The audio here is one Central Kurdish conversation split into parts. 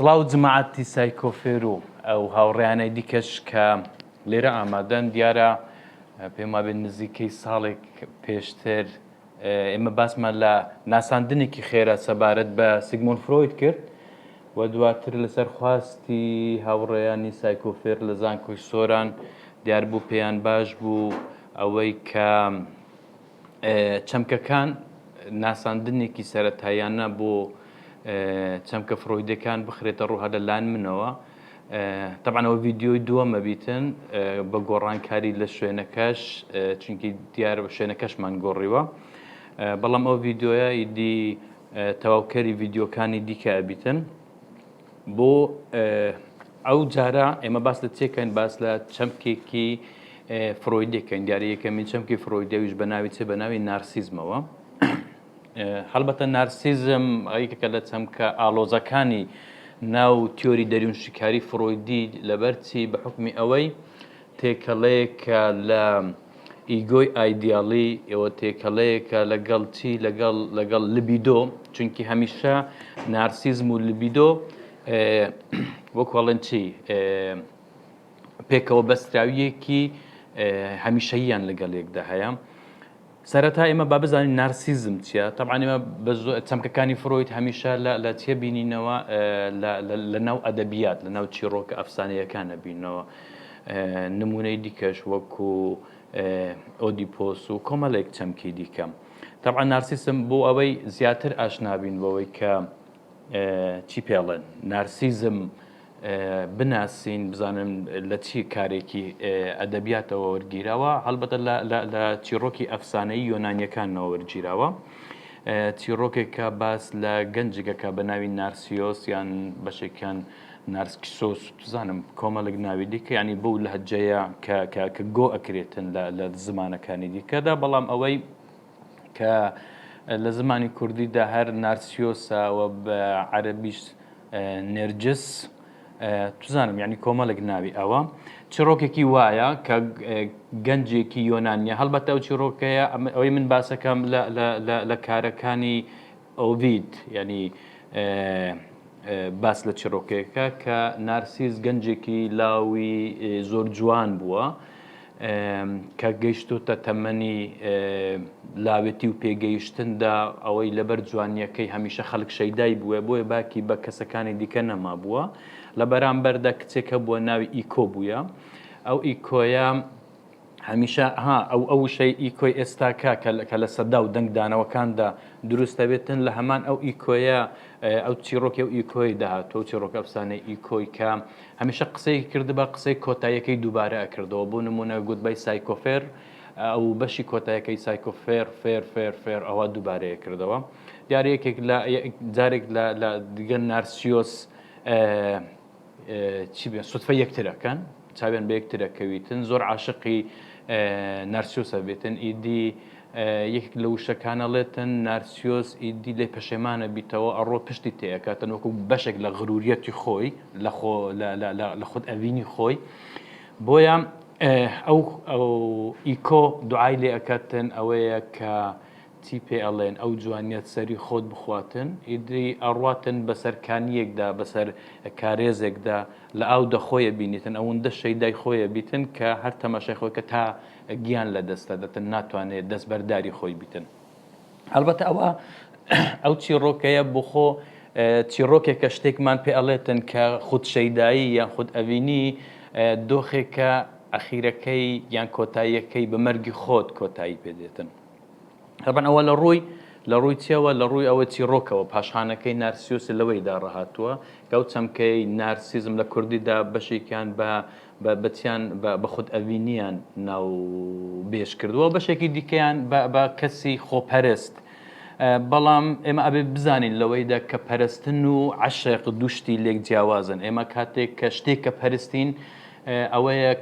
سڵاو جماعەتی سایکۆفێر و ئەو هاوڕێیانەی دیکەش کە لێرە ئامادەن دیارە پێم وابێت نزیکەی ساڵێک پێشتر ئێمە باسمان لە ناساندنێکی خێرا سەبارەت بە سیگمۆن فرۆید کرد و دواتر لەسەر خواستی هاوڕێیانی سایکۆفێر لە زانکۆی سۆران دیار بوو پێیان باش بوو ئەوەی کە چەمکەکان ناساندنێکی سەرەتاییانە بۆ چەمکە فرۆیدەکان بخرێتە ڕوو هەر لە لایەن منەوە طبعا ئەوە ڤیددیۆی دووەمە بیتن بە گۆڕانکاری لە شوێنەکەش چونکی دیار بە شوێنەکەشمان گۆڕیوە بەڵام ئەو ڤیددیۆیە ئیدی تەواوکەری ڤیددیۆکانی دیکە ئەبیتن بۆ ئەو جارە ئێمە باس لە چێکەین باس لە چەمکێکی فرۆیدەکەین دیارە یەکەمین چەمکی فرۆیدەویش بە ناوی چێ بە ناوی نارسیزمەوە هەڵبەتە نارسیزم ئەیکەکە لە چەمکە ئالۆزەکانی ناو تیۆری دەریون شکاری فرۆیدی لەبەرچی بە حکمی ئەوەی تێکەڵەیەکە لە ئیگۆی ئایدیاڵی ئێوە، تێکەڵەیەکە لەگەڵ چی؟ لەگەڵ لەگەڵ لبیدۆ، چونکی هەمیشە نارسیزم و لبیدۆ وەکو ئەڵێن چی پێکەوە بەستراویەکی هەمیشەییان لەگەڵ یەکدا هەیە. سەرەتا ئێمە با بزانین نارسیزم چیە؟ تەبعەن ئێمە بە زۆ چەمکەکانی فرۆید هەمیشە لە لە تێبینینەوە لە لە لەناو ئەدەبیات لەناو چیڕۆکە ئەفسانەیەکان ئەبینەوە نموونەی دیکەش وەکو ئۆدیپۆس و کۆمەلێک چەمکی دیکە تەبعەن نارسیسم بۆ ئەوەی زیاتر ئاشنا بین بەوەی کە چی پێڵێن نارسیزم بناسین بزانن لە چی کارێکی ئەدەبیاتەوە وەرگیراوە هەڵبەتە لە چیڕۆکی ئەفسانەی یۆنانیەکانەوە وەرگیراوە چیڕۆکێکە باس لە گەنجگەکە بە ناوی نارسیۆس یان بەشێکیان نارسکسۆس بزانم کۆمەڵک ناوی دیکە ینی بەو لە هەجەیە کە گۆ ئەکرێتن لە زمانەکانی دیکەدا بەڵام ئەوەی کە لە زمانی کوردیدا هەر نارسیۆسە و بە عەرەبیش نێرجس توزانم یعنی کۆمەڵێک ناوی ئەوە چڕۆکێکی وایە کە گەنجێکی یۆنانیە هەڵبەتە ئەو چڕۆکەیە ئەوەی من باسەکەم لە کارەکانی ئۆڤید ینی باس لە چڕۆکێکە کە نارسیز گەنجێکی لاوی زۆر جوان بووە کە گەیشتۆتە تەمەنی لاوێتی و پێگەیشتندا، ئەوەی لەبەر جوانییەکەی هەمیشە خەڵک شەیدای بووە، بۆیە باکی بە کەسەکانی دیکە نەمابووە. لە بەرامبەردا کچێک هەبووە ناوی ئیکۆ بووە. ئەو ئیکۆیە هەمیشە، ها، ئەو ئەو وشەی ئیکۆی ئێستاکە کە لە سەدا و دەنگدانەوەکاندا دروست دەبێتن، لە هەمان ئەو ئیکۆیە، ئەو چیڕۆکی ئەو ئیکۆی داهاتووە، ئەو چیڕۆکە ئەفسانەی ئیکۆی کە، هەمیشە قسەیەکی کردبا قسەی کۆتاییەکەی دووبارە ئەکردەوە بۆ نموونە گوتبای سایکۆفێر ئەوو بەشی کۆتایەکەی سایکۆ فێر فێر فێر فێر ئەوە دووبارەی ئەکردەوە دیارە یەکێک لە جارێک لە دیگە نارسیۆس چی بێ سوتفە یەکترەکەن چاوێن بە یەکترەکەویتن زۆر عاشقی نارسیۆسە بێتن ئیدی یەکێک لە وشەکانە ڵێتن، نارسیۆس ئیدی لێ پەشێمانە بیتەوە ئەڕۆ پشتی تێ ئەکاتن وەکو بەشێک لە غروریەتی خۆی لە خۆ لە لە لە لە خود ئەڤینی خۆی بۆیە ئەو ئەو ئیکۆ دوعای لێ ئەکاتن ئەوەیە کە چی پێ ئەڵێن ئەو جوانیەت سەری خۆت بخواتن ئیدی ئەڕاتن بەسەر کانیەکدا بەسەر کارێزێکدا لە ئاو دەخۆیە بینیتن ئەوەندە شەیدای خۆیە بیتن کە هەر تەماشای خۆی کە تا گیان لە دەست ئەدەتن ناتوانێت دەست بەرداری خۆی بیتن هەڵبەتە ئەوە ئەو چیڕۆکەیە بخۆ چیڕۆکێکە شتێکمان پێ ئەڵێتن کە خود شەیدایی یان خود ئەڤینی دۆخێکە ئەخیرەکەی یان کۆتاییەکەی بە مەرگی خۆت کۆتایی پێدێتن هەبن ئەوە لە ڕووی لە ڕووی چێوە لە ڕووی ئەوە چیڕۆکەوە پاشخانەکەی نارسیۆسی لەوەیدا ڕەهاتووە کەوت چەمکەی نارسیزم لە کوردیدا بەشێکیان بە بەتیان بە خودئەوینیان ناوبێژ کردووە، بەشێکی دیکەیان بە کەسی خۆپەرست، بەڵام ئێمە ئەبێ بزانین لەوەیدا کە پەرستن و عەشق دوو شتی لێک جیاوازن، ئێمە کاتێک کە شتێک کە پەرستین ئەوەیە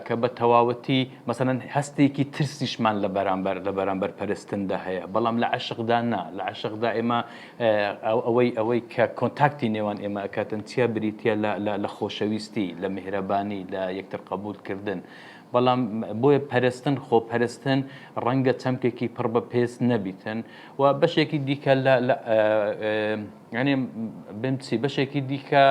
کە بە تەواوەتی مەسەلەن هەستێکی ترسیشمان لە بەرامبەر لە بەرامبەر پەرستندا هەیە، بەڵام لە عەشقدا نا، لە عەشقدا ئێمە ئەوەی ئەوەی کە کۆنتاکتی نێوان ئێمە ئەکاتن چیا بریتیە لە لە لە خۆشەویستی لە میهرەبانی لە یەکتر قەبوول کردن بەڵام بۆیە پەرستن خۆپەرستن ڕەنگە چەمکێکی پڕ بە پێست نەبیتن و بەشێکی دیکە لە لە یعنی بمچی بەشێکی دیکە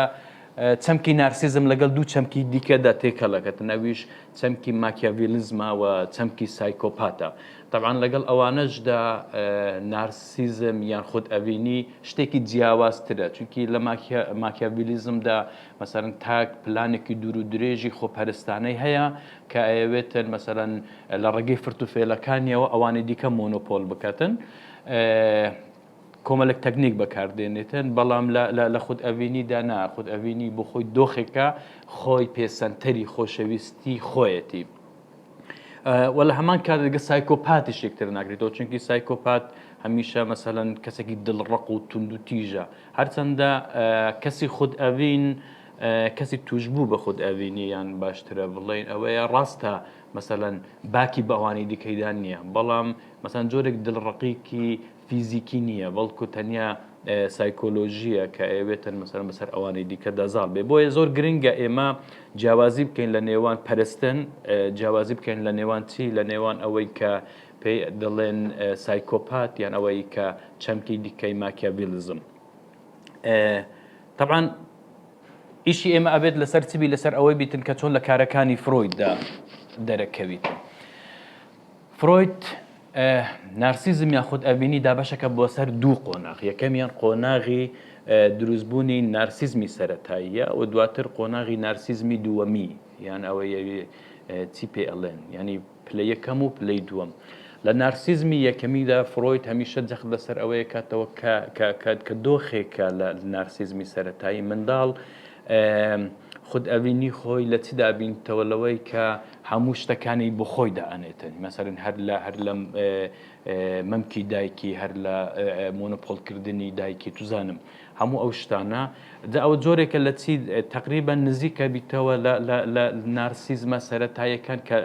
چەمکی نارسیزم لەگەڵ دوو چەمکی دیکەدا تێکەڵەکەت نەویش چەمکی ماکیاڤیلزمە و چەمکی سایکۆپاتە تەبعەن لەگەڵ ئەوانەشدا نارسیزم یان خودئەڤینی شتێکی جیاوازترە، چونکی لە ماکیاڤیلیزمدا مەسەلەن تاک پلانێکی دوورودرێژی خۆپەرستانەی هەیە کە ئەیەوێتن مەسەلەن لە ڕێگەی فرتوفێلەکانیەوە ئەوانی دیکە مۆنۆپۆل بکاتن، کۆمەلێک تەکنیک بەکاردێنێتن، بەڵام لە خودئەڤینیدا نا، خودئەڤینی بۆ خۆی دۆخێکە خۆی پێسەنتەری خۆشەویستی خۆیەتی. و لە هەمان کات لەگە سایکۆپاتیش یەکتر ناگریتەوە چونکی سایکۆپات هەمیشە مەسەەن کەسێکی دڵڕق و تونند و تیژە هەرچەندە کەسی خود ئەڤین کەسی توشببوو بە خود ئەڤینی یان باشترە بڵین ئەوەیە ڕاستە مەسەەن باکی بەوانی دیکەیدان نییە بەڵام مەسەن جۆرێک دڵڕقیکی فیزیکی نییە، بەڵکو تەنیا سایکۆلۆژییە کە ئەیەوێت مەسەلەن بەسەر ئەوانی دیکەدا زاڵ بێت. بۆیە زۆر گرنگە ئێمە جیاوازی بکەین لە نێوان پەرستن، جیاوازی بکەین لە نێوان چی؟ لە نێوان ئەوەی کە پێی دەڵێن سایکۆپات یان ئەوەی کە چەمکی دیکەی ماکیاڤیلیزم. تەبعەن ئیشی ئێمە ئەبێت لەسەر چی بی لەسەر ئەوەی بیتن کە چۆن لە کارەکانی فرۆیددا دەرەکەویتن. فرۆید نارسیزم یا خودئەڤینی دابەشەکە بۆ سەر دوو قۆناغ، یەکەمیان قۆناغی دروستبوونی نارسیزمی سەرەتاییە و دواتر قۆناغی نارسیزمی دووەمی یان ئەوە یەوێ چی پێ ئەڵێن یانی پلە یەکەم و پلەی دووەم. لە نارسیزمی یەکەمیدا فرۆید هەمیشە جەخت لەسەر ئەوەیە کاتەوە کە دۆخێکە لە نارسیزمی سەرەتایی منداڵ خود ئەڤینی خۆی لە چ دابینتەوە لەوەی کە هەموو شتەکانی بۆ خۆی دائەنێتن مەسەرن هەر لە هەر لەم مەمکی دایکی هەر لە مۆنۆپۆلکردنی دایکی توزانم هەموو ئەو شتانە جا ئەو جۆرێکە لە چی تقریبا نزیکە بیتەوە لە نارسیزمە سەتاییەکان کە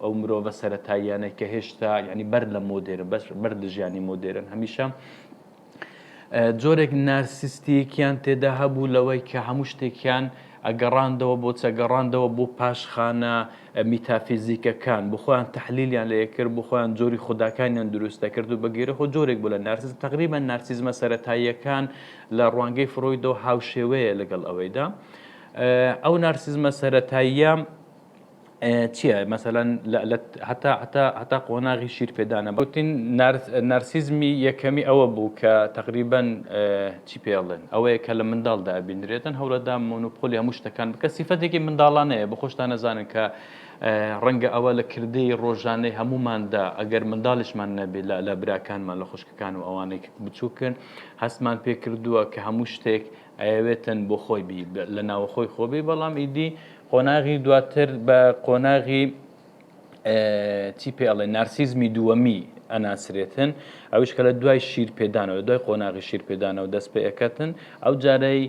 ئەو مرۆڤە سەتاییانەی کە هێشتا ینی بەر لە مۆدێرن بەر لە ژیانی مۆدێرن هەمیشە جۆرێک نارسیستییەکیان تێدا هەبوو لەوەی کە هەموو شتێکیان ئەگەڕاندەوە بۆ چ؟ ئەگەڕاندەوە بۆ پاشخانە میتافیزیکەکان، بۆ خۆیان تەحلیلیان لێ ئەکرد، بۆ خۆیان جۆری خوداکانیان دروست ئەکرد و بە گوێرەی خۆ جۆرێک بوو لە نارسیزم. تەقریبەن نارسیزمە سەرەتاییەکان لە ڕوانگەی فرۆیدەوە هاوشێوەیە لەگەڵ ئەوەیدا. ئەو نارسیزمە سەرەتاییە، چیە مەسەلەن هەتا هەتا هەتا قۆناغی شیر پێدانە بەوتین نارسیزمی یەکەمی ئەوە بوو کە تقریبەن چی پێڵێن ئەوەیە کە لە منداڵدا بینرێتن هەورەدا مۆنوپۆلی هەموو شتەکان بکە سیفەتێکی منداڵانەیە بە خۆشتان نەزانن کە ڕەنگە ئەوە لە کردەی ڕۆژانەی هەموماندا ئەگەر منداڵشمان نەبێ لە لە براکانمان لە خوشکەکان و ئەوانێک بچووکن هەستمان پێکردووە کە هەموو شتێک ئەیەوێ تەن بۆ خۆی بی لە ناوەخۆی خۆ بی بەڵام ئیدی قۆناغی دواتر بە قۆناغی چی پێ ئەڵێ نارسیزمی دووەمی ئەناسرێتن ئەوش کە لە دوای شیر پێدانەوە دوای قۆناغی شیر پێدانەوە دەست پێ ئەکەتن ئەو جارەی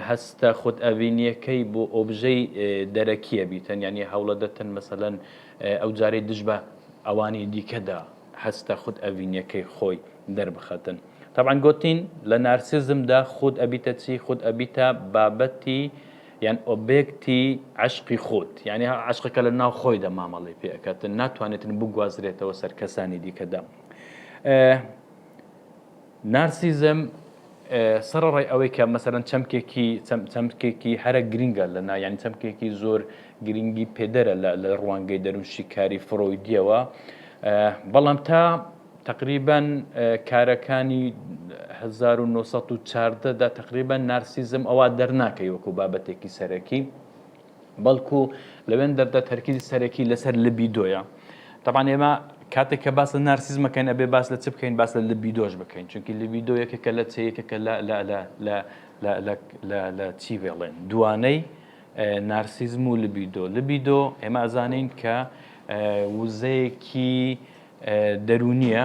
هەستە خودت ئەڤینیەکەی بۆ ئۆبژەی دەرەکیە بیتەن ینی هەوڵە دەتن مەسەەن ئەو جارەی دژ بە ئەوانی دیکەدا هەستە خود ئەڤینیەکەی خۆی دەربخەتن. تەبعەن گۆتین لە نارسیزمدا خود ئەبیتە چی؟ خود ئەبیتە بابەتی یان ئۆبێکتی عەشقی خود، یانی عەشقەکە لە ناو خۆیدا مامەڵەی پێ ئەکاتن، ناتوانێتن بگوازرێتەوە سەر کەسانی دیکەدا. نارسیزم، سەڕەڕای ئەوەی کە مەسەلەن چەمکێکی چەمکێکی هەرە گرینگە لە نا یانی چەمکێکی زۆر گرینگی پێدەرە لە لە ڕوانگەی دەروونشیکاری فرۆیدیەوە بەڵام تا تقریبەن کارەکانی 1914 دا تقریبەن نارسیزم ئەوا دەرناکەی وەکو بابەتێکی سەرەکی بەڵکو لەوێن دەردە تەرکیزی سەرەکی لەسەر لبیدۆیە تەبان ئێمە کاتێک کە باس لە نارسیز مەکەین ئەبێ باس لە چ بکەین باس لە لبیدۆش بکەین چونکی لبیدۆ یەکێکە لە چەیەکەکە لە چی بێڵێن دوانەی نارسیزم و لبیدۆ لبیدۆ ئێمە ئەزانین کە وزەیەکی دەروونیە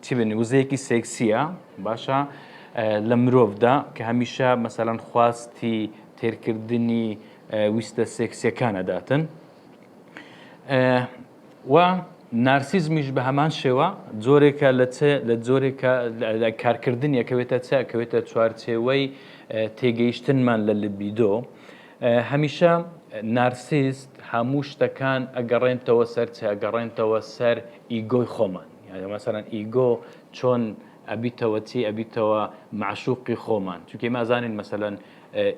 چی بێنی وزەیەکی سێکسیە باشە لە مرۆڤدا کە هەمیشە مەسەلەن خواستی تێرکردنی ویستە سێکسیەکانەداتن و نارسیزمیش بە هەمان شێوە جۆرێکە لە لە جۆرێکە کارکردنیەکەوێتە چاکەوێتە چوارچێوەی تێگەیشتنمان لە لبیدۆ هەمیشە نارسیست هەموو شتەکان ئەگەڕێنتەوە سەر چ ئەگەڕێنتەوە سەر ئیگۆی خۆمان یاە مەسەرەن ئیگۆ چۆن ئەبیتەوە چی ئەبیتەوە معشوقی خۆمان چونکە مازانین مەسەەن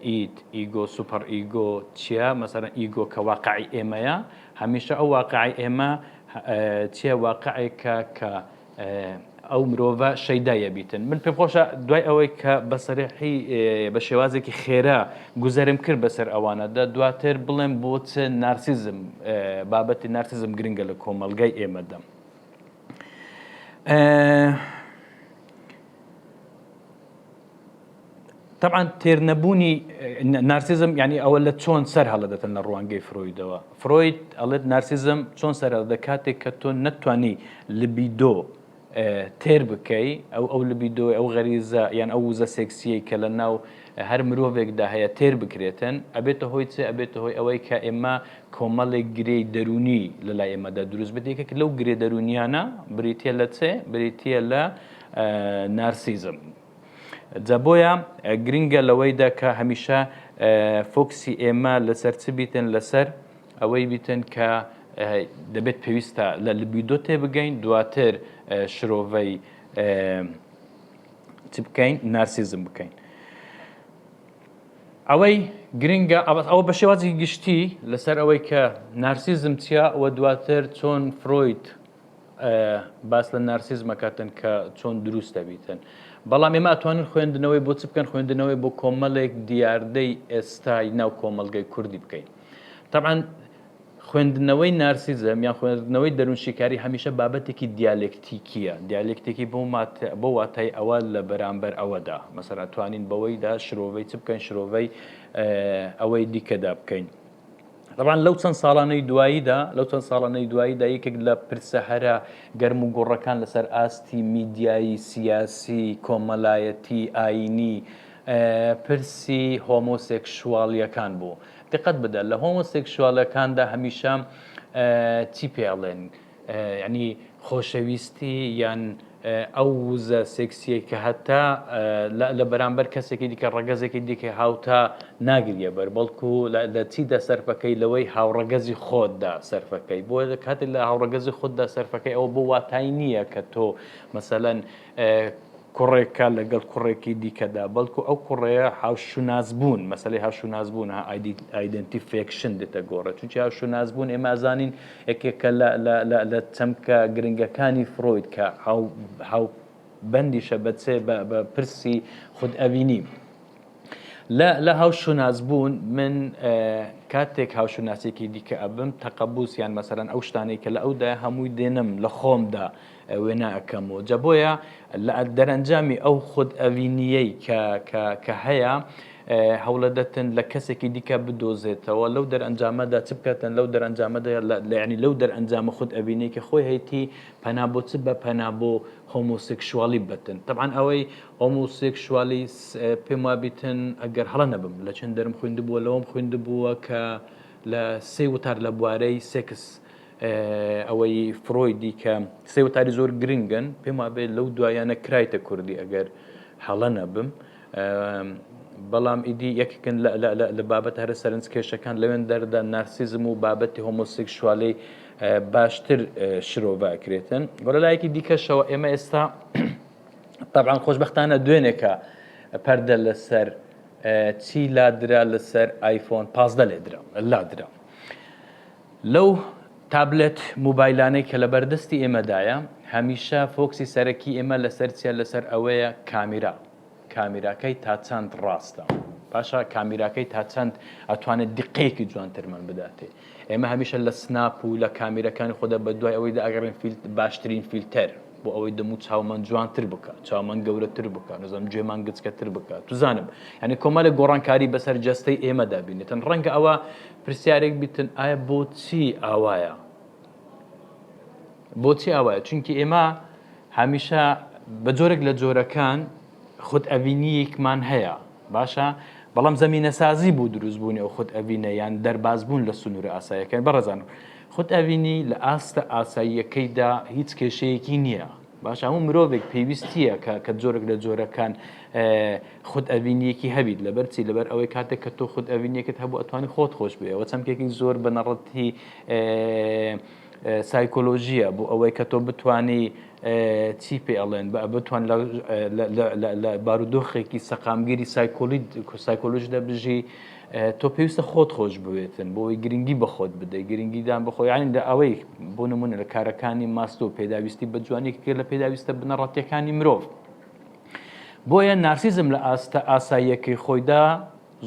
ئید ئیگۆ سوپەر ئیگۆ چیە مەسەرەن ئیگۆ کە واقعی ئێمەیە هەمیشە ئەو واقعی ئێمە چیە واقعێکە کە ئەو مرۆڤە شەیدا یەبیتن من پێم خۆشە دوای ئەوەی کە بەسەرحی بە شێوازێکی خێرا گوزەرم کرد بەسەر ئەوانەدا دواتر بڵێم بۆ چ نارسیزم بابەتی نارسیزم گرنگە لە کۆمەلگای ئێمەدەم. تەبعەن تێرنەبوونی نارسیزم یعنی ئەوە لە چۆن سەر هەڵدەدەتن لە ڕوانگەی فرۆیدەوە فرۆید ئەڵێت نارسیزم چۆن سەر هەڵدە کاتێک کە تۆ نەتوانی لبیدۆ تێر بکەی ئەو ئەو لبیدۆ ئەو غەریزە یان ئەو وزە سێکسیەی کە لە ناو هەر مرۆڤێکدا هەیە تێر بکرێتن ئەبێتە هۆی چێ ئەبێتە هۆی ئەوەی کە ئێمە کۆمەڵێک گرێی دەروونی لەلای ئێمەدا دروست بێت یەکێک لەو گرێ دەروونیانە بریتە لە چێ بریتە لە نارسیزم جا بۆیە گرنگە لەوەیدا کە هەمیشە فۆکسی ئێمە لەسەر چ بیتن لەسەر ئەوەی بیتن کە دەبێت پێویستە لە لبیدۆ تێ بگەین دواتر شرۆڤەی چ بکەین نارسیزم بکەین ئەوەی گرنگە ئەوە بە شێوازی گشتی لەسەر ئەوەی کە نارسیزم چیا و دواتر چۆن فرۆید باس لە نارسیزم ئەکاتن کە چۆن دروست دەبیتن بەڵام ئێمە ئەتوانن خوێندنەوەی بۆ چ بکەن خوێندنەوەی بۆ کۆمەڵێک دیاردەی ئێستای ناو کۆمەلگەی کوردی بکەین طبعا خوێندنەوەی نارسیزم یان خوێندنەوەی دەروونشیکاری هەمیشە بابەتێکی دیالکتیکیە دیالکتێکی بۆ بۆ واتای ئەوە لە بەرامبەر ئەوەدا مەسەر ئەتوانین بەوەیدا شرۆڤەی چ بکەین شرۆڤەی ئەوەی دیکەدا بکەین دەبان لەو چەند ساڵانەی دواییدا لەو چەند ساڵانەی دواییدا یەکێک لە پرسە هەرە گەرم و گۆڕەکان لەسەر ئاستی میدیایی سیاسی کۆمەلایەتی ئاینی پرسی هۆمۆسێکشواڵیەکان بوو دقەت بدە لە هۆمۆسێکشواڵەکاندا هەمیشە چی پێڵێن یانی خۆشەویستی یان ئەو وزە سێکسیەی کە هەتا لە بەرامبەر کەسێکی دیکە ڕەگەزێکی دیکە هاوتا ناگریە بەر بەڵکو لە چیدا سەرفەکەی لەوەی هاوڕەگەزی خۆتدا سەرفەکەی بۆ کاتێک لە هاوڕەگەزی خوددا سەرفەکەی ئەوە بۆ واتای نییە کە تۆ مەسەەن کوڕێکە لەگەڵ کوڕێکی دیکەدا بەڵکو ئەو کوڕەیە هاوشوناس بوون مەسلەی هاوشوناس بوون ئایدنتی فێکشن دێتە گۆڕێ چونکی هاوشوناس بوون ئێمازانین یەکێکە لە چەمکە گرنگەکانی فرۆید کە هاو بەندیشە بەچێ بە پرسی خود ئەوینی لە هاوشوناس بوون من کاتێک هاوشوناسێکی دیکە ئەبم تەقەبوسیان مەسەرەن ئەو شتانەی کە لە ئەودا هەمووی دێنم لە خۆمدا وێنا ئەکەم و جا بۆیە لە دەرئەنجامی ئەو خود ئەوینییەی کە کە کە هەیە هەوڵەدەتن لە کەسێکی دیکە بدۆزێتەوە لەو دەرئەنجامەدا چ بکاتن لەو دەرئەنجامەدا لەیانی لەو دەرئەنجامە خود ئەوینەی کە خۆی هەیتی پەنا بۆ چ بە پەنا بۆ هۆمۆسێکشوالی بەتن طبعا ئەوەی هۆمۆسێکشوالی پێم وابیتن ئەگەر هەڵە نەبم لە چەند دەرم خوێندبووە لەوەم خوێندبووە کە لە سێ وتار لە بوارەی سێکس ئەوەی فرۆی دیکە سێ وتاری زۆر گرنگن پێم وابێت لەو دوایانە کرایتە کوردی ئەگەر هەڵە نەبم بەڵام ئیدی یەککن لە بابەت هەرە سەرنج کێشەکان لەوێن دەردا نارسیزم و بابەتی هۆمۆسێکشوالی باشتر شرۆڤکرێتن بۆ لە لایەکی دیکەشەوە ئێمە ئێستا طبعاان خۆشببختانە دوێنێکە پەردە لەسەر چی لادرا لەسەر ئایفۆن پازدە لێدرا لادرا لەو تابلێت موبایلانەی کە لەبەر دەستی ئێمەدایە، هەمیشە فۆکسی سەرەکی ئێمە لەسەر چیە؟ لەسەر ئەوەیە کامیرا کامیراکەی تا چەند ڕاستە؟ باشە کامیراکەی تا چەند ئەتوانێت دیقەیەکی جوانترمان بداتێ؟ ئێمە هەمیشە لە سناپ و لە کامیرەکانی خۆدا بە دوای ئەوەیدا ئەگەڕێن فیلت باشترین فیلتەر بۆ ئەوەی دەموو چاومان جوانتر بکا چاومان گەورەتر بکا نەزانم گوێمان گچکەتر بکا توزانم یانی کۆمەلێک گۆڕانکاری بەسەر جەستەی ئێمەدا بینێتن ڕەنگە ئەوە پرسیارێک بیتن ئایا بۆچی ئاوایە بۆچی ئاوایە چونکی ئێمە هەمیشە بە جۆرێک لە جۆرەکان خود ئەڤینیەکمان هەیە باشە بەڵام زمینە سازی بوو دروستبوونی ئەو خود ئەڤینە یان دەربازبوون لە سنوورە ئاسایەکە بەڕزان خود ئەڤینی لە ئاستە ئاساییەکەیدا هیچ کێشەیەکی نییە باشە هەموو مرۆڤێک پێویستیە کە کە جۆرێک لە جۆرەکان خود ئەڤینیەکی هەبیت لەبەر چی لەبەر ئەوەی کاتێک کە تۆ خود ئەڤینیەکت هەبوو ئەتوانی خۆت خۆش بێەوە چەمکێکی زۆر بنەڕەتی سایکۆلۆژیە بۆ ئەوەی کە تۆ بتانی چی پێ ئەڵێن بتوان لە بارودۆخێکی سەقامگیری سایکۆلی سایکۆلژدا بژی تۆ پێویستە خۆت خۆش بوێتن بۆ ئەوەی گرنگی بە خۆت بدەیت، گرنگیدان بە خۆ یانی لە ئەوەی بۆ نموونە لە کارەکانی ماستۆ پێداویستی بە جوانی یەکێکە لە پێداویستە بنەڕەتییەکانی مرۆڤ. بۆیە نارسیزم لە ئاستە ئاساییەکەی خۆیدا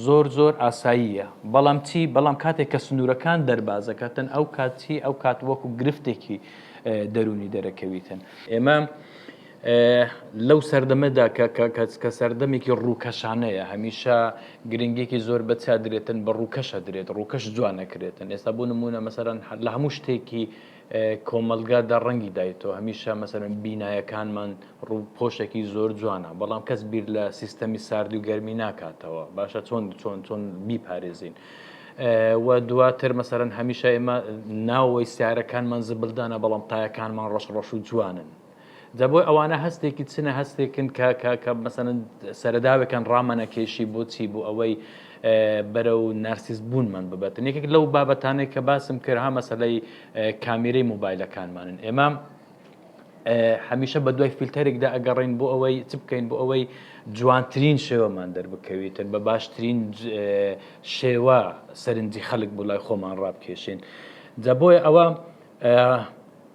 زۆر زۆر ئاساییە، بەڵام چی؟ بەڵام کاتێک کە سنوورەکان دەرباز دەکاتن ئەو کات چی؟ ئەو کات وەکوو گرفتێکی دەروونی دەرەکەویتن. ئێمە لەو سەردەمەدا کە سەردەمێکی ڕووکەشانەیە، هەمیشە گرنگیەکی زۆر بە چیا درێتن، بە ڕووکەش ئەدرێت، ڕووکەش جوان ئەکرێتن، ئێستا بۆ نموونە مەسەلەن لە هەموو شتێکی کۆمەلگادا ڕەنگی دایتەوە، هەمیشە مەسەلەن بینایەکانمان ڕووپۆشێکی زۆر جوانە، بەڵام کەس بیر لە سیستەمی ساردی و گەرمی ناکاتەوە، باشە چۆن چۆن چۆن بیپارێزین؟ و دواتر مەسەلەن هەمیشە ئێمە ناوەوەی سیارەکانمان زبلدانە، بەڵام تایەکانمان ڕەش ڕەش و جوانن. جا بۆ ئەوانە هەستێکی چنە هەستێکن کە کە کە مەسەن سەرەداوێکان ڕامانە کێشی بۆچی بۆ ئەوەی بەرە و نرسیس بوونمان ببەتن یەکێک لەو بابەتانێک کە باسم کرد ها مەسلەی کامیرەی موبایلەکانمانن ئێمە هەمیشە بە دوای فیلتەرێکدا ئەگەڕین بۆ ئەوەی چ بکەین بۆ ئەوەی جوانترین شێوەمان دەربکەویتن بە باشترین شێوە سەرنجی خەلک بۆ لای خۆمان ڕابکێشین جا بۆیە ئەوە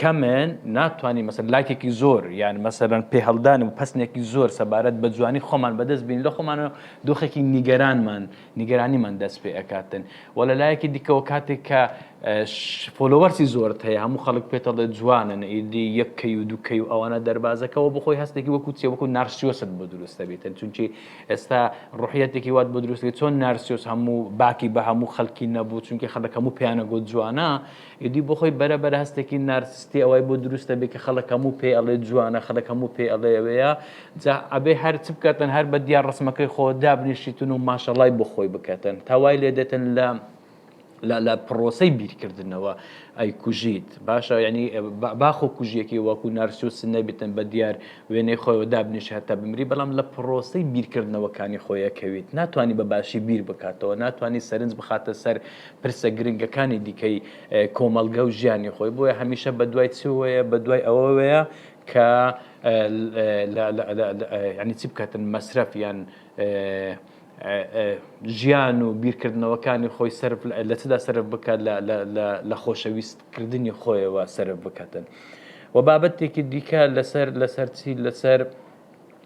کەمن ناتوانین مەسەلەن لایکێکی زۆر یان مەسەلەن پێهەڵدان و پەسنێکی زۆر سەبارەت بە جوانی خۆمان بەدەست بین لە خۆمانەوە دۆخێکی نیگەرانمان نیگەرانیمان دەست پێ ئەکاتن و لە لایەکی دیکەوە کاتێک کە فۆلۆوەرسی زۆرت هەیە هەموو خەڵک پێتەڵێ جوانن ئیدی یەک کەی و دوکەی و ئەوانە دەربازەکەەوە بخۆی هەستێکی وەکو چێ وەکو نارسیۆست بۆ دروستە بێتن چونکی ئێستا ڕحەتێکی وات بۆ دروستێت چۆن نارسیۆس هەموو باکی بە هەموو خەڵکی نەبوو چونکی خەڵک هەموو پیانە گۆت جوانە ئیدی بۆ خۆی بەرە بەرە هەستێکی نارسستی ئەوای بۆ دروست ئەبێ کە خەڵک هەموو پێی ئەڵێ جوانە خەڵک هەموو پێی ئەڵێ ئەوەیە جا ئەبێ هەر چ بکەتن هەر بە دیا ڕسمەکەی خۆ دابنیشیتن و ماشەڵای بۆ خۆی بکەتن تا وای لێ دێتن لە لە لە پڕۆسەی بیرکردنەوە ئەی کوژیت باشە ینی باخۆ کوژیەکی وەکو نارسوس نەبیتن بە دیار وێنەی خۆیەوە دابنیش هەتا بمری بەڵام لە پڕۆسەی بیرکردنەوەکانی خۆیەکەویت ناتوانانی بە باشی بیر بکاتەوە ناتوانانی سەرنج بخاتە سەر پرسە گرنگەکانی دیکەی کۆمەڵگە و ژیانی خۆی بۆیە هەمیشە بە دوای چوەیە بە دوای ئەوەوەیە کە ینی چی بکاتن مەسرەف یان ژیان و بیرکردنەوەکانی خۆی سرف لە چدا سرف بکات لە خۆشەویستکردنی خۆیەوە سرف بکاتن و بابەتێکی دیکە لەسەر لەسەرچی لەسەر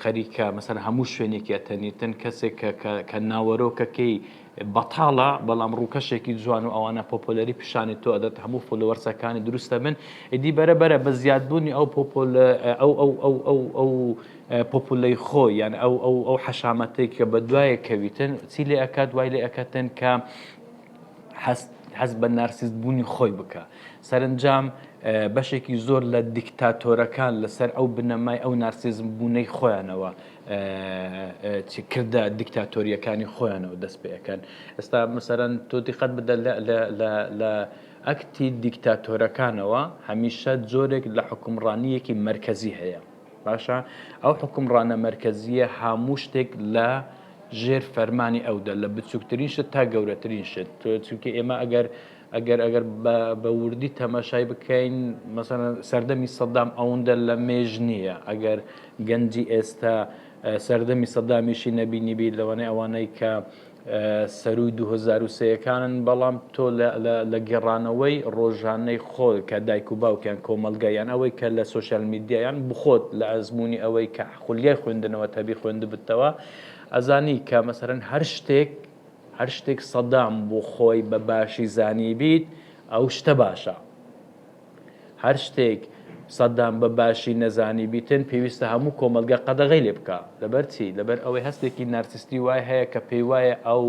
خەریکە مەسەن هەموو شوێنێکی ئەتەنیتن کەسێک کە ناوەرۆکەکەی بەتاڵە بەڵام ڕووکەشێکی جوان و ئەوانە پۆپۆلەری پیشانی تۆ ئەدەت هەموو فۆلوەرسەکانی دروستە بن ئیدی بەرە بەرە بە زیادبوونی ئەو پۆپۆل ئەو ئەو ئەو ئەو ئەو پۆپولەی خۆ یان ئەو ئەو ئەو حەشامەتێک کە بە دوایە کەویتن چی لێ ئەکات وای لێ ئەکەتن کە هەست هەست بە نارسیست بوونی خۆی بکە سەرنجام بەشێکی زۆر لە دیکتاتۆرەکان لەسەر ئەو بنەمای ئەو نارسیزم بوونەی خۆیانەوە کردە دیکتاتۆریەکانی خۆیانەوە دەست پێەکەن ئێستا مەسەرەن تۆ دیقەت بدە لە ئەکتی دیکتاتۆرەکانەوە هەمیشە جۆرێک لە حکومڕانیەکی مرکزی هەیە باشە ئەو حوکمڕانە مەرکەزیە هەموو شتێک لە ژێر فەرمانی ئەودا لە بچووکترین شت تا گەورەترین شت تۆ چونکە ئێمە ئەگەر ئەگەر ئەگەر بە وردی تەماشای بکەین مەسەن سەردەمی سەدام ئەوەندە لە مێژ نییە ئەگەر گەنجی ئێستا سەردەمی سەدامیشی نەبینیبی لەوانەیە ئەوانەی کە سەرووی دوو هەزار و سێ ەکانن، بەڵام تۆ لە گێڕانەوەی ڕۆژانەی خۆ کە دایک و باوکیان کۆمەڵگا یان ئەوەی کە لە سۆشیال میدیا یان بخۆت لە ئەزموونی ئەوەی کە خولیای خوێندنەوەت هەبی خوێندبتەوە ئەزانی کە مەسەلەن هەر شتێک هەر شتێک سەدام بۆ خۆی بە باشی زانیبیت ئەو شتە باشە. هەر شتێک سەدام بە باشی نەزانیبیتن پێویستە هەموو کۆمەڵگە قەدەغەی لێ بکا لەبەر چی؟ لەبەر ئەوەی هەستێکی نارسیستی وای هەیە کە پێی وایە ئەو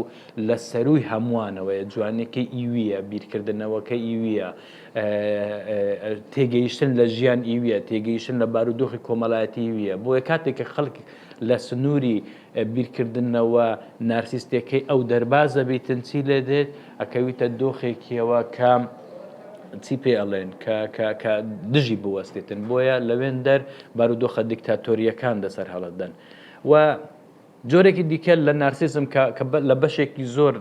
لە سەرووی هەمووانەوەیە جوانیەکەی ئیویە بیرکردنەوەکەی ئیویە تێگەیشتن لە ژیان ئیویە تێگەیشتن لە بارودۆخی کۆمەلایەتی ئیویە بۆیە کاتێک کە خەڵک لە سنووری بیرکردنەوە نارسیستیەکەی ئەو دەرباز دەبیتن چی لێ دێت ئەکەویتە دۆخێکیەوە کە چی پێ ئەڵێن کە دژی بوەستێتن بۆیە لەوێن دەر بارودۆخە دیکتاتۆریەکان دەسەر هەڵدەن و جۆرێکی دیکە لە نارسیزم لە بەشێکی زۆر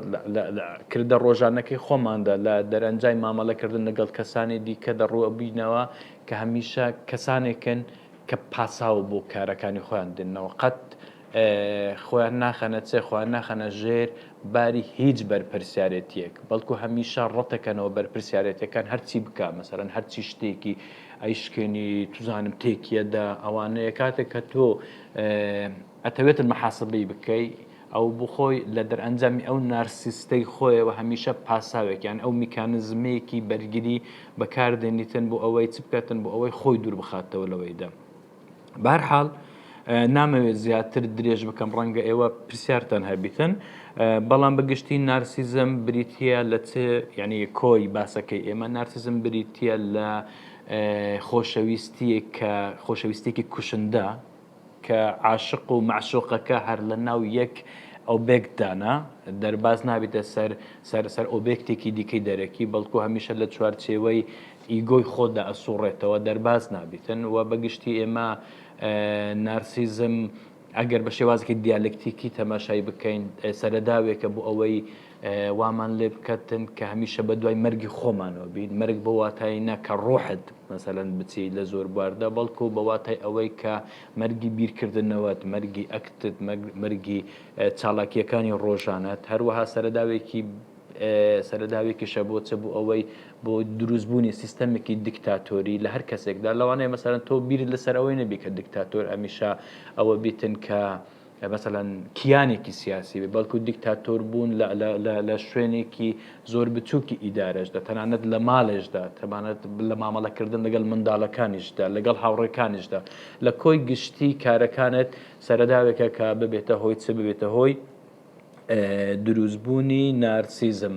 کردە ڕۆژانەکەی خۆماندا لە دەرەنجای مامەڵەکردن لەگەڵ کەسانی دیکە دەڕوە بینەوە کە هەمیشە کەسانێکن کە پاساو بۆ کارەکانی خۆیان دێننەوە قەت خۆیان ناخەنە چێ خۆیان ناخەنە ژێر باری هیچ بەرپرسیارێتیەک بەڵکو هەمیشە ڕەتەکەنەوە بەرپرسیارێتەکان هەرچی بکە مەسەرەن هەرچی شتێکی ئەیشکێنی توزانم تێکیەدا ئەوانەیە کاتێک کە تۆ ئەتەوێتن محاسبەی بکەی ئەو بۆ خۆی لە دەرئەنجامی ئەو نارسیستەی خۆیەوە هەمیشە پاساوێک یان ئەو میکانزمێکی بەرگری بەکاردێنیتن بۆ ئەوەی چ بکاتن بۆ ئەوەی خۆی دوور بخاتەوە لەوەی دە بارحاڵ نامەوێت زیاتر درێژ بکەم ڕەنگە ئێوە پرسیارتان هەبیتن بەڵام بەگشتی نارسیزم بریتە لە چ یعنی کۆی باسەکەی ئێمە نارسیزم بریتە لە خۆشەویستیە کە خۆشەویستێکی کوشندە کە عاشق و مەعشوقەکە هەر لە ناو یەک ئۆبێکتدانە، دەرباز نابێتە سەر سەر سەر ئۆبێکتێکی دیکەی دەرەکی، بەڵکو هەمیشە لە چوارچێوەی ئیگۆی خۆتدا ئەسوڕێتەوە، دەرباز نابێتن و بە گشتی ئێمە نارسیزم ئەگەر بە شێوازێکی دیالەکتیکی تەماشای بکەین، سەرەداوێکە بۆ ئەوەی وامان لێ بکەتن کە هەمیشە بە دوای مەرگی خۆمانەوە بین، مەرگ بەو واتایەی نا کە ڕۆحت مەسەلەن بچی لە زۆر بواردا، بەڵکو بە واتای ئەوەی کە مەرگی بیرکردنەوەت، مەرگی ئەکتت، مەرگی چالاکییەکانی ڕۆژانەت، هەروەها سەرەداوێکی سەرەداوێکیشە بۆ چ بۆ ئەوەی بۆ دروستبوونی سیستەمێکی دیکتاتۆری لە هەر کەسێکدا، لەوانەیە مەسەلەن تۆ بیرت لەسەر ئەوەی نەبی کە دیکتاتۆر هەمیشە ئەوە بیتن کە مەسەلەن کیانێکی سیاسی بێت، بەڵکو دیکتاتۆر بوون لە شوێنێکی زۆر بچووکی ئیدارەشدا، تەنانەت لە مالێشدا، تەنانەت لە مامەڵەکردن لەگەڵ منداڵەکانیشدا، لەگەڵ هاوڕێکانیشدا، لە کۆی گشتی کارەکانت سەرەداوێکە کە ببێتە هۆی چ؟ ببێتە هۆی دروستبوونی نارسیزم.